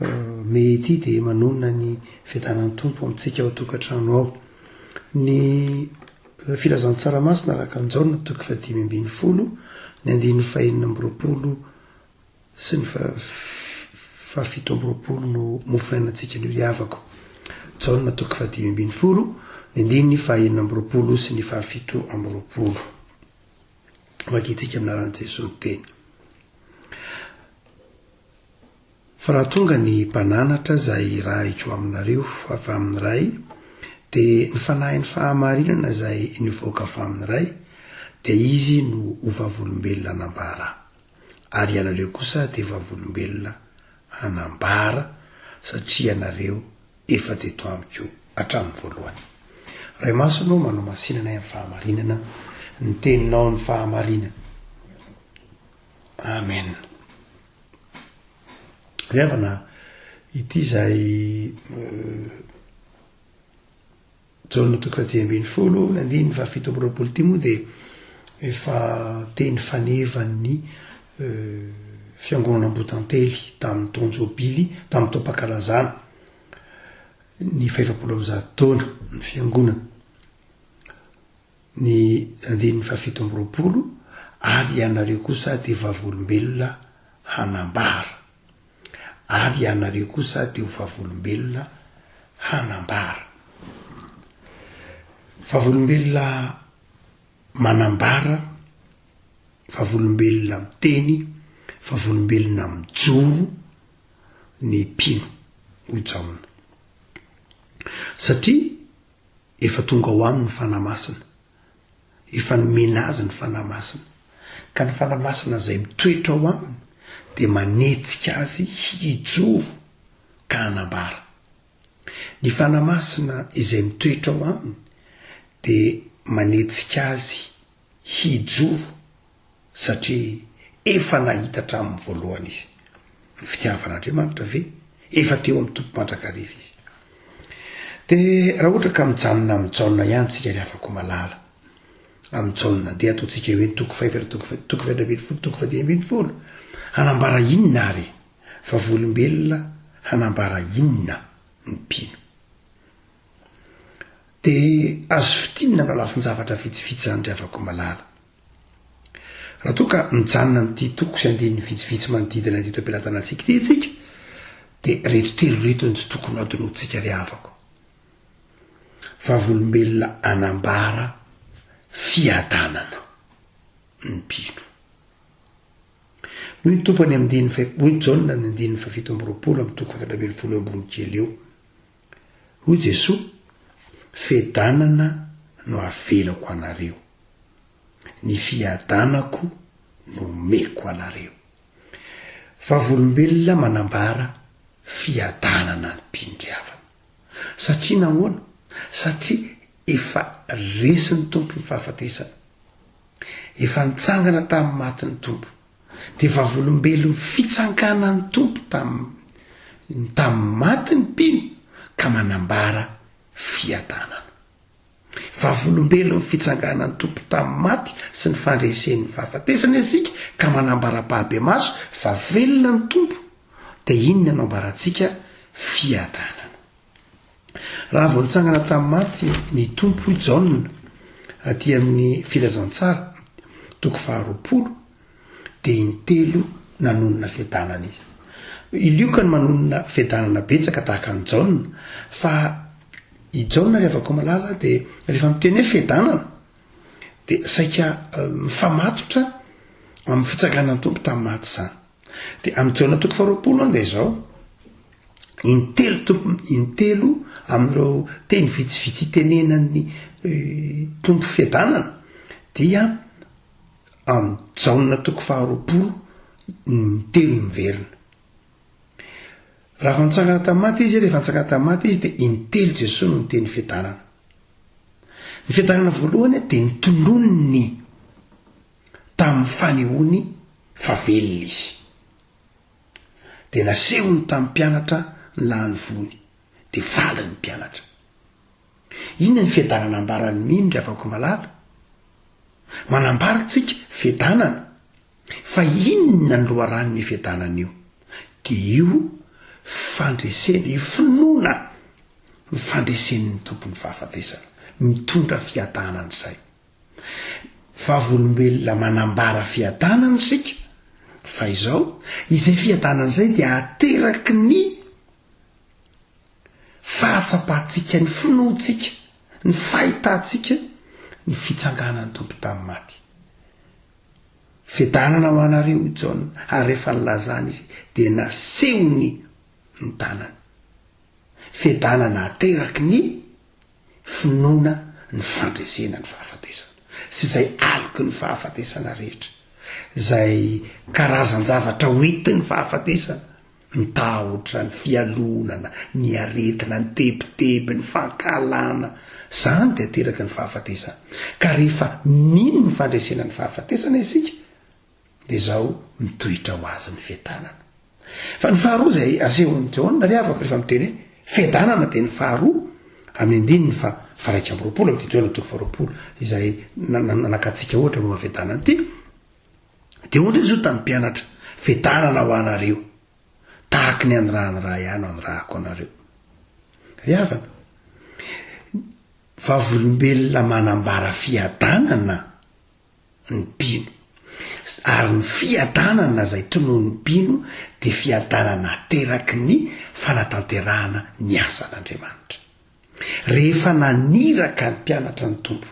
Mey ity dia manonona ny fiadanan'ny Tompo amintsika ao an-tokantrano ao. Ny Filazantsara Masina araka an'i Jaona toko fahadimy ambin'ny folo, ny andininy fahenina amby roapolo sy ny fahafito amby roapolo no mofonaina antsika anio ry havako. Jaona toko fahadimy ambin'ny folo, ny andininy fahenina amby roapolo sy ny fahafito amby roapolo. Vakintsika amin'ny anaran'i Jesoa ny teny. Fa raha tonga ny mpananatra izay hirahiko aminareo avy amin'ny Ray, dia ny Fanahin'ny fahamarinana izay nivoaka avy amin'ny Ray, dia Izy no ho vavolombelona hanambara. Ary ianareo kosa dia vavolombelona hanambara, satria ianareo efa teto amiko hatramin'ny voalohany. Ray Masina ô, manao masinana ahy amin'ny fahamarinana, ny Teninao no fahamarinana. Amena. Ry havana, ity izay Jaona toko faha dimy ambin'ny folo ny andininy faha fito amby roapolo ity moa dia efa teny fanevan'ny fiangonana Ambotantely tamin'ny taon-jobily, tamin'ny taom-pankalazana ny fahefapolo amby zato taona ny fiangonana. ny andininy fahafito amby roapolo, Ary ianareo kosa dia vavolombelona hanambara. Ary ianareo kosa dia ho vavolombelona hanambara. Vavolombelona manambara, vavolombelona miteny, vavolombelona mijoro ny mpino, hoy Jaona. Satria. Efa tonga ao aminy ny Fanahy Masina. Efa nomena azy ny Fanahy Masina. Ka ny Fanahy Masina izay mitoetra ao aminy dia manetsika azy hijoro ka hanambara. Ny Fanahy Masina izay mitoetra ao aminy dia manetsika azy hijoro Satria efa nahita hatramin'ny voalohany izy ny fitiavan'Andriamanitra ve? Efa teo amin'ny Tompo mandrakariva izy. Dia raha ohatra ka mijanona amin'i Jaona ihany tsika ry havako malala, amin'i Jaona, dia ataontsika hoe ny toko fahefatra, toko fa- toko fahefatra ambin'ny folo, toko fahadimy ambin'ny folo, hanambara inona ary e? Vavolombelona hanambara inona ny mpino? Dia azo fintinina aminà lafin-javatra vitsivitsy izany ry havako malala. Raha toa ka mijanona amin'ity toko sy andininy vitsivitsy manodidina an'ity toepelantanantsika ity isika, dia reto telo reto no tsy tokony hadinointsika ry havako. Vavolombelona anambara fiadanana ny mpino. Hoy ny Tompo any amin'ny andininy, hoy Jaona any andininy fahafito amby roapolo amin'ny toko efatra ambin'ny folo eo ambony kely eo, Hoy Jesoa, Fiadanana no avelako anareo. Ny fiadanako no omeko anareo. Vavolombelona manambara fiadanana amim-piniavana. Satria nahoana? Satria efa resin'ny Tompo ny fahafatesana. Efa nitsangana tamin'ny maty ny Tompo. dia vavolombelon'ny fitsanganan'ny Tompo tamin'ny tamin'ny maty ny mpino ka manambara fiadanana. Vavolombelon'ny fitsanganan'ny Tompo tamin'ny maty sy ny fandresen'ny fahafatesana isika ka manambara-pahabemaso fa velona ny Tompo, dia inona no ambarantsika? Fiadanana. Raha vao nitsangana tamin'ny maty ny Tompo, hoy Jaona, aty amin'ny Filazantsara, toko faharoapolo, dia intelo nanonona fiadanana izy. I Lioka no manonona fiadanana betsaka tahaka an'i Jaona, fa i Jaona, ry havako malala, dia rehefa miteny hoe fiadanana, dia saika mifamatotra amin'ny fitsanganan'ny Tompo tamin'ny maty izany. Dia amin'i Jaona toko faharoapolo anga izao, intelo tompo, intelo amin'ireo teny vitsivitsy itenenan'ny tompo fiadanana, dia amin'i Jaona toko faharoapolo intelo miverina. Raha fantsangana tamin'ny maty izy, rehefa fantsangana tamin'ny maty izy, dia intelo Jesoa no niteny fiadanana. Ny fiadanana voalohany dia ny tolon'ny tamin'ny fanehoany fa velona izy. Dia nasehony tamin'ny mpianatra ny lahin'ny voany, dia faly ny mpianatra. Inona ny fiadanana ambaran'ny mino ry havako malala? Manambara antsika fiadanana, fa inona ny loharanon'io fiadanana io? Dia io fandresena, io finoana ny fandresen'ny Tompon'ny fahafatesana, mitondra fiadanana izay. Vavolombelona manambara fiadanana isika, fa izao, izay fiadanana izay dia ateraky ny fahatsapantsika, ny finoantsika, ny fahitantsika ny fitsanganan'ny Tompo tamin'ny maty. Fiadanana ho anareo hoy Jaona, ary rehefa nilazany izy dia nasehony ny tanany. Fiadanana ateraky ny. finoana ny fandresena ny fahafatesana sy izay aloky ny fahafatesana rehetra, izay karazan-javatra hoentin'ny fahafatesana, ny tahotra, ny fialonana, ny aretina, ny tebiteby, ny fankahalana, izany dia ateraky ny fahafatesana. Ka rehefa mino ny fandresena ny fahafatesana isika Dia izao mitoetra ho azy ny fiadanana. Fa ny faharoa izay asehon'i Jaona ry havako rehefa miteny hoe fiadanana dia ny faharoa amin'ny andininy fa faraika amby roapolo amin'ity Jaona toko faharoapolo izay nanakatsika ohatra momba ny fiadanana ity. Dia hoy indray Jesoa tamin'ny mpianatra, fiadanana ho anareo, tahaky ny anirahan'ny Ray ahy no anirahako anareo. Ry havana, vavolombelona manambara fiadanana ny mpino. Ary ny fiadanana izay tonon'ny mpino dia fiadanana ateraky ny fanatanterahana ny asan'Andriamanitra. Rehefa naniraka ny mpianatra ny Tompo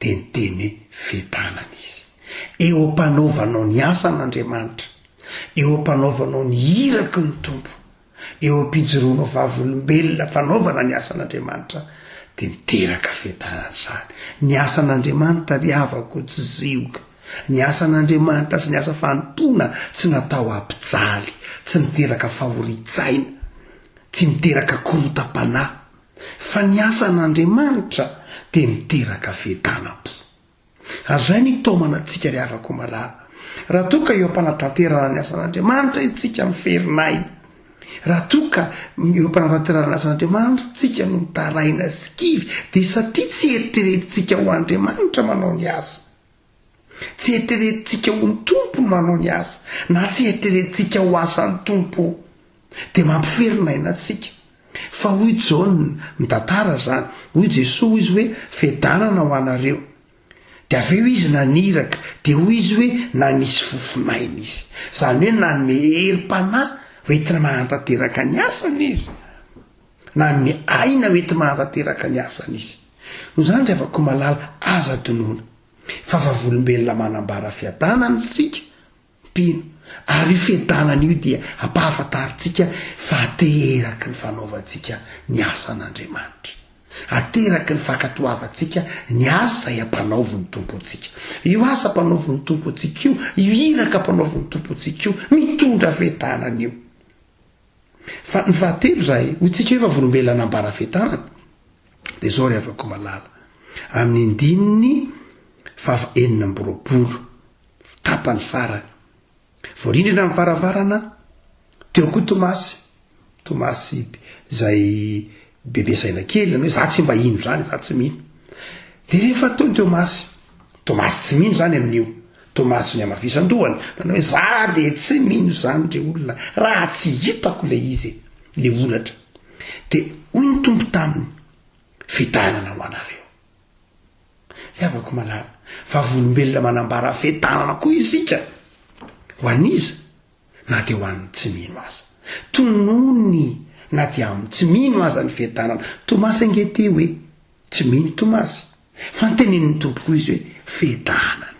dia niteny hoe fiadanana izy. Eo am-panaovanao ny asan'Andriamanitra, eo am-panaovanao ny iraky ny Tompo, eo am-pijoroanao vavolombelona fanaovana ny asan'Andriamanitra dia miteraka fiadanana izany. Ny asan'Andriamanitra ry havako tsy zioga. Ny asan'Andriamanitra sy ny asa fanompoana tsy natao hampijaly, tsy miteraka fahorian-tsaina, tsy miteraka korotam-panahy. Fa ny asan'Andriamanitra dia miteraka fiadanam-po. Ary izay no hitaomana antsika ry havako malala. Raha toa ka eo am-panatanterahana ny asan'Andriamanitra isika miferinay, raha toa ka eo am-panatanterahana ny asan'Andriamanitra isika no mitaraina sy kivy, dia satria tsy eritreretintsika ho Andriamanitra manao ny asa. Tsy eritreretintsika ho ny Tompo no manao ny asa, na tsy eritreretintsika ho asan'ny Tompo. dia mampiferina aina antsika. Fa hoy Jaona, mitantara izany, hoy Jesoa hoy Izy hoe, Fiadanana ho anareo. Dia avy eo Izy naniraka, dia hoy Izy hoe, Nanisy fofon'aina Izy. Izany hoe nanome herim-panahy hoentina mahantanteraka ny asany Izy. Nanome aina hoentina mahantanteraka ny asany Izy. Noho izany, ry havako malala, aza adinoina. Fa vavolombelona manambara fiadanana isika. Mpino. Ary io fientanana io dia hampahafantarintsika fa ateraky ny fanaovantsika ny asan'Andriamanitra. Ateraky ny fankatoavantsika ny asa izay ampanaovin'ny Tompo antsika. Io asa ampanaovin'ny Tompo antsika io, io iraka ampanaovin'ny Tompo antsika io, mitondra fientanana io. Fa ny fahatelo izay, hoy tsika hoe vavolombelona nambara fientanana, dia izao ry havako malala, amin'ny andininy faha enina amby roapolo tapany farany. Voarindrina ny varavarana, teo koa Tomasy, Tomasy izay bebe saina kely, hoe za tsy mba hino zany, za tsy mino. De rehefa teo Tomasy, Tomasy tsy mino zany amin'io, Tomasy ny amafisan-dohany, nanao hoe za de tsy mino zany dre olona, raha tsy hitako le izy, le olatra. De hoy ny Tompo taminy, fidainana ho anareo. Fiavako malala. Vavolombelona manambara fetanana koa isika. Ho an'iza? Na dia ho an'ny tsy mino aza. Tonony na dia amin'ny tsy mino aza ny fetanana. Tomasy ange tia hoe tsy mino Tomasy. Fa ny tenenin'ny Tompo koa izy hoe fetanana.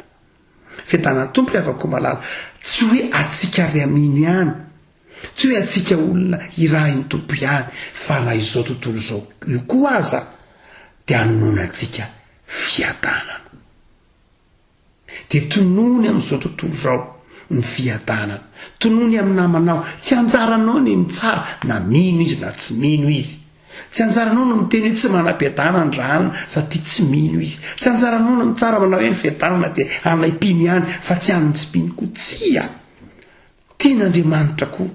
Fetanan'ny Tompo ry havako malala. Tsy hoe antsika ry amino ihany Tsy hoe antsika olona irahin'ny Tompo ihany fa na izao tontolo izao io koa aza dia anononantsika fiadanana. Dia tonony amin'izao tontolo izao ny fiadanana. Tonony amin'ny namanao. Tsy anjaranao ny mitsara na mino izy na tsy mino izy. Tsy anjaranao ny miteny hoe tsy manam-piadanana raha hanina satria tsy mino izy. Tsy anjaranao ny mitsara manao hoe ny fiadanana dia anay mpino ihany fa tsy an'ny tsy mpino koa. Tsia! Tian'Andriamanitra koa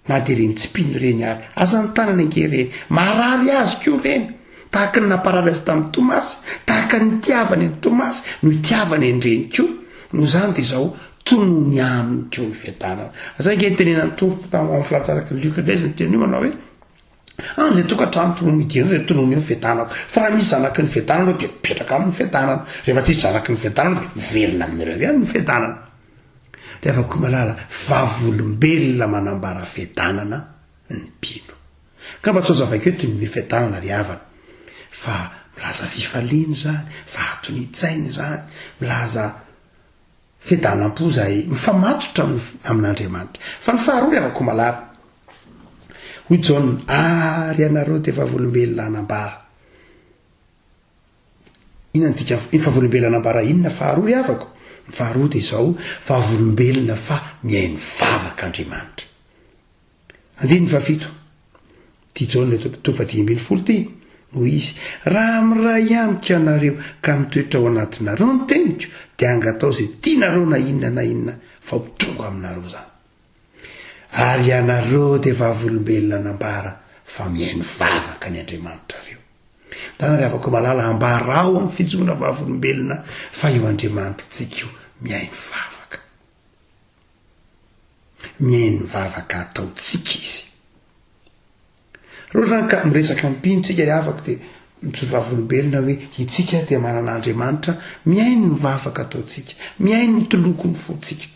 na dia ireny tsipìny ireny ary. Aza anotanana ange ireny. Maharary Azy koa ireny. Tahaka ny namparary Azy tamin'i Tomasy, tahaka ny nitiavany an'i Tomasy no itiavany an'ireny koa. Noho izany dia izao, Tonony aminy koa ny fiadanana. Izay ange ny tenenan'ny Tompo tao amin'ny filatsaraka an'i Lioka indray izay niteny io manao hoe, Any le tokantrano tonony mijery le tonony eo ny fiadanana fa raha misy zanaky ny fiadanana eo de mipetraka aminy ny fiadanana rehefa tsisy zanaky ny fiadanana de miverina amin'ireo ihany ny fiadanana de avy koa malala vavolombelona manambara fiadanana ny mpino ka mba tsy azavaiko eto ny fiadanana ry havana fa milaza fifaliana izany fa atony tsaina izany milaza Fiadanam-po izay mifamatotra amin'ny amin'Andriamanitra. Fa ny faharoa ry havako malala. Hoy Jaona, Ary ianareo dia vavolombelona anambara. Inona no dikany hoe vavolombelona anambara inona faharoa ry havako? Ny faharoa dia izao, vavolombelona fa mihaino vavaka Andriamanitra. Andininy fahafito ty Jaona eto toko fahadimy ambin'ny folo ty, hoy izy, Raha miray amiko ianareo ka mitoetra ao anatinareo ny teniko, dia hangatao izay tianareo na inona na inona fa ho tonga aminareo izany. Ary ianareo dia vavolombelona nambara fa mihaino vavaka ny Andriamanitra reo. Ndana ry havako malala, ambarao amin'ny fijoroana vavolombelona fa io Andriamanitrintsika io mihaino vavaka. Mihaino vavaka ataontsika izy. Roa ka miresaka ampino tsika ry havako dia mijoro vavolombelona hoe itsika dia manana Andriamanitra mihaino ny vavaka ataontsika, mihaino ny tolokon'ny fontsika.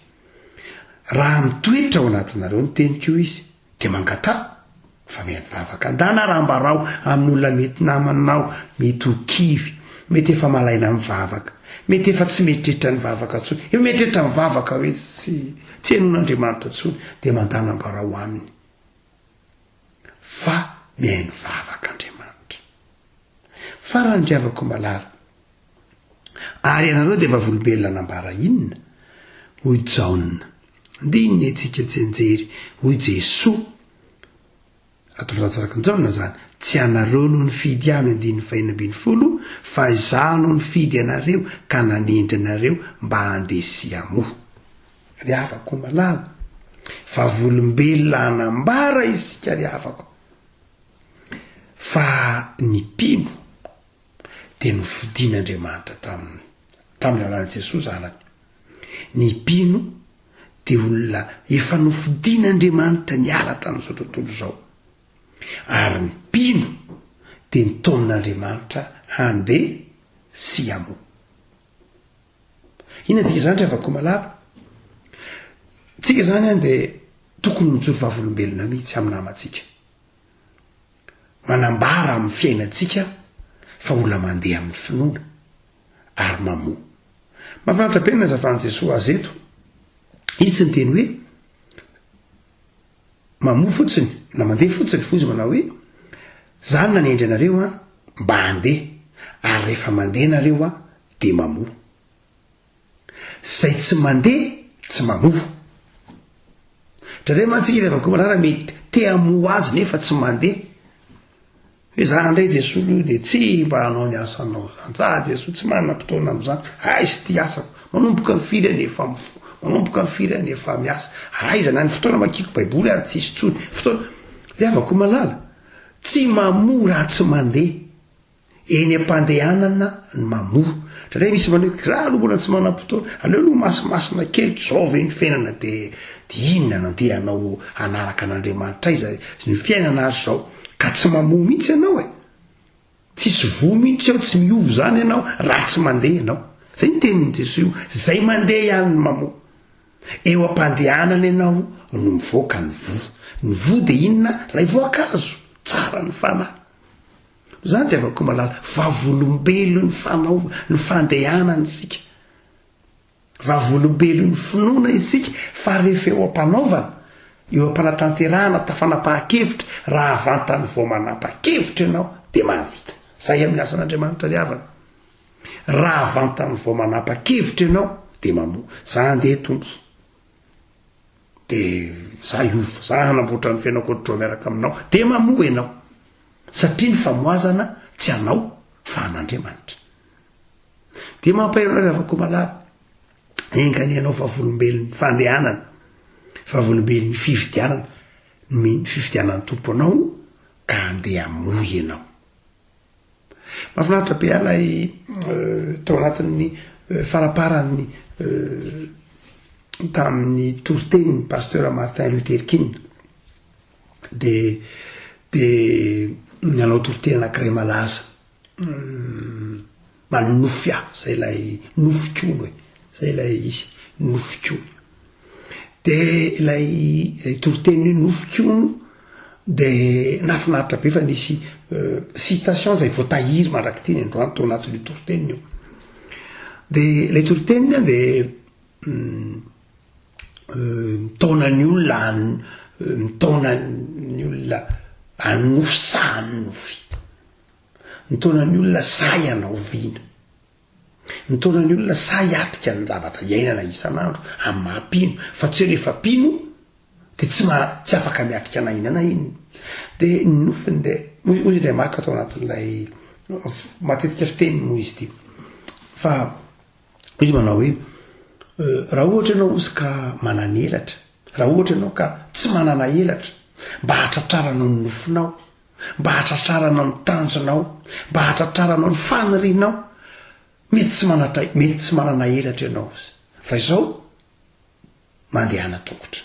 Raha mitoetra ao anatinareo ny teniko io izy. Dia mangataha fa miha mivavaka andahy na rambaraho amin'olona mety namanao, mety ho kivy, mety efa malaina mivavaka, mety efa tsy mieritreritra ny vavaka intsony, efa mieritreritra ny vavaka hoe tsy tsy henoin'Andriamanitra intsony dia mandà nambarao aminy fa mihaino vavaka Andriamanitra. Farany ry havako malala, Ary ianareo dia vavolobelona nambara inona? hoy Jaona. Ndiny ny antsika tsy anjery, hoy Jesoa. Ato Frantsa araka ny Jaona izany. Tsy ianareo no nifidy ahy, andininy fahenina ambin'ny folo, fa Izaho no nifidy anareo ka nanendry anareo mba handeha sy hamoa. Ry havako malala, vavolombelona hanambara isika, ry havako, fa ny mpino, dia nofidin'Andriamanitra taminy, tamin'ny alalan'i Jesoa Zanany. Ny mpino dia olona efa nofidin'Andriamanitra niala tamin'izao tontolo izao. Ary ny mpino dia nitaomin'Andriamanitra handeha sy hamoa. Inona dia izany ry havako malala? Tsika izany dia tokony mijoro vavolombelona mihitsy amin'ny namantsika. manambara amin'ny fiainantsika fa olona mandeha amin'ny finoana ary mamoa. Mahafinaritra be ny nazavan'i Jesoa azy eto. Izy tsy niteny hoe mamoa fotsiny na mandeha fotsiny fa izy manao hoe zany nanendry anareo an mba handeha ary rehefa mandeha nareo an dia mamoa. Zay tsy mandeha tsy mamoa. Drandray mantsika ilay vakoa manara mety te hamoa azy nefa tsy mandeha. Hoe za ndray Jesoa lo dia tsy mba hanao ny asanao zany. Za Jesoa tsy manam-potoana amin'izany. Aiza ity asako? Manomboka ny firy any efa mifoha? Manomboka ny firy any efa miasa? Aiza na ny fotoana makiako Baiboly ary tsisy intsony. Fotoana. Ry havako malala, tsy mamoa raha tsy mandeha. Eny am-pandehanana ny mamoa. Indraindray misy manao hoe za aloha mbola tsy manam-potoana. Aleo aloha masimasina kely ry zao ve ny fiainana dia dia inona no andehanao hanaraka an'Andriamanitra aiza ny fiainana ary zao ka tsy mamoa mihitsy ianao e. Tsisy voa mihitsy ao tsy miova izany ianao raha tsy mandeha ianao. Zay ny tenin'i Jesoa io, zay mandeha ihany no mamoa. Eo am-pandehanana ianao no mivoaka ny voa. Ny voa dia inona? Ilay voankazo, tsara ny fanahy. Zany ry havako malala, vavolombelon'ny fanaova, ny fandehanana isika. Vavolombelon'ny finoana isika fa rehefa eo am-panaovana, eo am-panatanterahana, tafanapaha-kevitra, raha vantany vao manapa-kevitra ianao dia mahavita. Zay amin'ny asan'Andriamanitra ry havana. Raha vantany vao manapa-kevitra ianao dia mamoa. Za andeha Tompo. dia za hiova za hanamboatra ny fiainako ohatr'izao miaraka aminao dia mamoa ianao satria ny famoazana tsy anao fa an'andriamanitra dia mampaherona ry havako malala engany ianao vavolombelon'ny fandehanana vavolombelon'ny fividianana ny fividianan'ny tompo anao ka andeha moa ianao Mahafinaritra be ahy ilay tao anatin'ny faraparany tamin'ny toritenin'ny Pasteur Martin Luther King dia dia nanao torite anankiray malaza. Manonofy ahy, zay ilay nofik'olo e, zay ilay izy, nofik'olo. Dia ilay toriteny hoe nofik'olo dia nahafinaritra be fa nisy citation zay voatahiry mandrak'ity ny androany tao anatin'io toriteny io. Dia ilay toriteny dia mitaona ny olona mitaona ny olona hanonofy saha hanonofy. Ny taonan'ny olona sahy hanao vina. Ny taonan'ny olona sahy hiatrika ny zavatra iainana isan'andro amin'ny maha mpino fa tsy hoe rehefa mpino dia tsy maha tsy afaka miatrika na inona na inona. Dia ny nofiny dia hoy hoy Andriamanitra Marc tao anatin'ilay matetika fiteniny moa izy ity fa izy manao hoe raha ohatra ianao ozy ka manana elatra raha ohatra ianao ka tsy manana elatra mba hahatratraranao ny nofinao mba hahatratrarana ny tanjonao, mba hahatratraranao ny fanirianao. Mety tsy manatra, mety tsy manana elatra ianao, fa izao mandehana tongotra.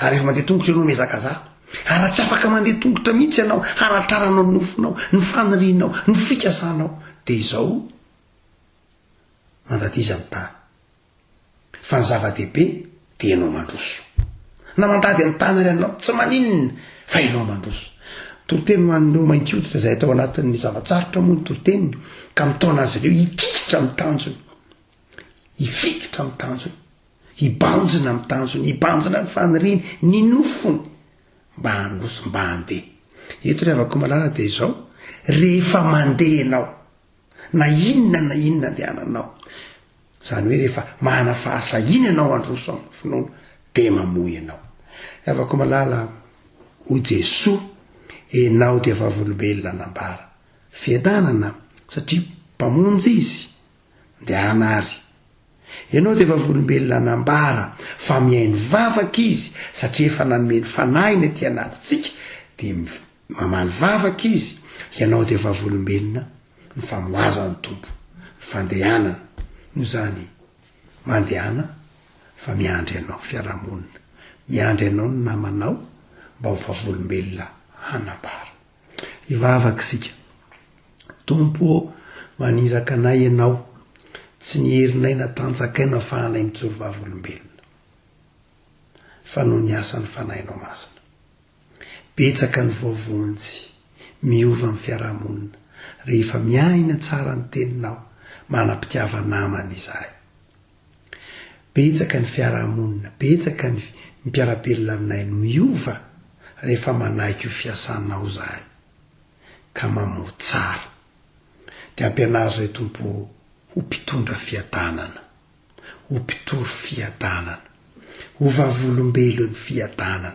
Ary rehefa mandeha tongotra ianao mihazakazaha, ary raha tsy afaka mandeha tongotra mihitsy ianao hanatraranao ny nofinao, ny fanirianao, ny fikasanao, dia izao mandadiza ny tany. Fa ny zava-dehibe dia ianao mandroso. Na mandady amin'ny tany ary ianao, tsy maninona fa ianao mandroso. Toriteny ho an'ireo mainty hoditra izay atao anatin'ny zava-tsarotra moa ny toriteny ka mitaona azy ireo hikikitra amin'ny tanjony, hifikitra amin'ny tanjony, hibanjina amin'ny tanjony, hibanjina ny faniriany, ny nofony mba handroso, mba handeha. Eto ry havako malala dia izao, rehefa mandeha ianao, na inona na inona andehananao, Izany hoe rehefa manana fahasahiana ianao handroso amin'ny finoana dia mamoa ianao. Havako malala, hoy Jesoa, enao dia vavolombelona nambara, fiadanana, satria Mpamonjy Izy, ndehana ary. Ianao dia vavolombelona nambara fa mihaino vavaka Izy satria efa nanome ny Fanahiny aty anatintsika, dia Mamaly vavaka izy, Ianao dia vavolombelona, ny famoazan'ny Tompo, ny fandehanana, noho izany mandehana fa miandry anao fiarahamonina, miandry anao ny namanao mba ho vavolombelona hanambara. Hivavaka isika, Tompo ô, maniraka anay Ianao, tsy ny herinay na tanjakay no afahanay mijoro vavolombelona, fa noho ny asan'ny Fanahinao Masina. Betsaka ny voavonjy. Miova ny fiarahamonina rehefa miaina tsara ny teninao, manam-pitiava namana izahay. Betsaka ny fiarahamonina, betsaka ny mpiara-belona aminay no miova rehefa manaiky io fiasanao izahay ka mamoha tsara. Dia ampianaro izay Tompo ho mpitondra fiadanana. ho mpitory fiadanana, ho vavolombelon'ny fiadanana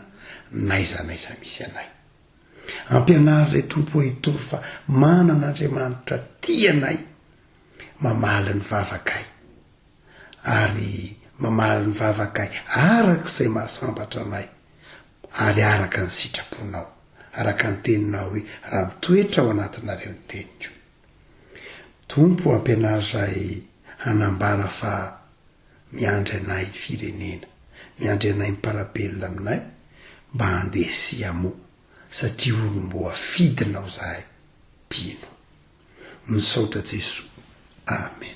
n'aiza n'aiza misy anay. Ampianaro Ray Tompo ô hitory fa manana Andriamanitra tia anay, mamaly ny vavakay, ary mamaly ny vavakay araka izay mahasambatra anay, ary araka ny sitraponao, araka ny teninao hoe raha mitoetra ao anatinareo ny teniko. Tompo ampianaro zahay hanambara fa miandry anay ny firenena, miandry anay miparabelona aminay mba handeha siamo satria olomboafidinao zahay mpino. Misaotra Jesoa. Amen.